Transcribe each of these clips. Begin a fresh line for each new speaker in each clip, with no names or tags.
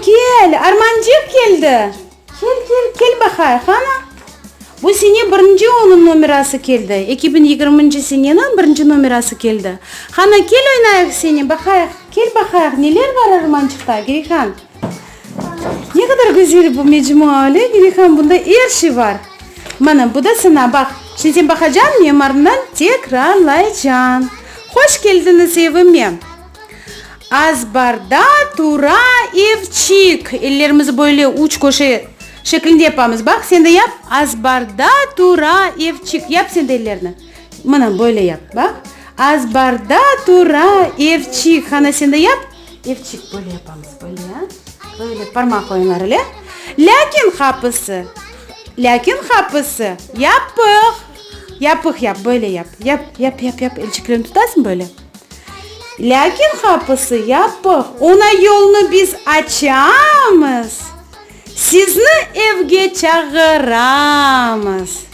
Kel, armancıq keldi! Kel, kel, kel baqay, qana? Bu sene birinci onıñ nomerası keldi, eki biñ yigirminci seneniñ birinci nomerası keldi. Qana, kel oynayıq seni, baqayıq, kel baqayıq, neler bar armancıqta, Gerihan? Ne qadar güzel bu mecmua, öyle mi, İlham? Bunda er şey bar. Mana, bu da sana, baq. Şimdi sen baqacañ, men marından tekrarlaycañ. Hoş keldiñiz evime! Azbarda tura evçik. Ellerimizni böyle üç köşe şeklinde yapamız. Baq, sen de yap. Azbarda tura evçik. Yap sen de ellerni. Mına böyle yap, baq. Azbarda tura evçik. Qana, sen de yap. Evçik, böyle yapamız, böyle, böyle parmaq oyunları ile. Lâkin qapısı, lâkin qapısı yapıq. Yapıq yap, böyle yap. Yap, yap, yap, yap. Elçiklerini tutasıñ böyle. Lâkin qapısı yapıq. Oña yolnı biz açamız. Sizni evge çağıramız.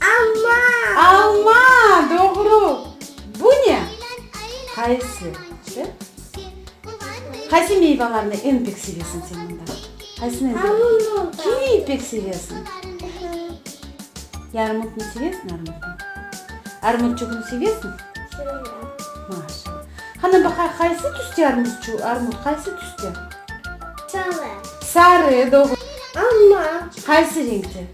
Alma! Alma! Doğru! Bu ne? Qayısı? Dı? Qaysı meyvalarnı eñ pek sevesiñ sen mında? Qaysını eñ sevesiñ? Kivi pek sevesiñ? Yarmutnı sevesiñ, armutnı? Armutçugını sevesiñ? Maşa. Qana baqa, qaysı tüste armutçu, armut qaysı tüste? Sarı. Sarı, doğru. Alma. Qaysı reñkte?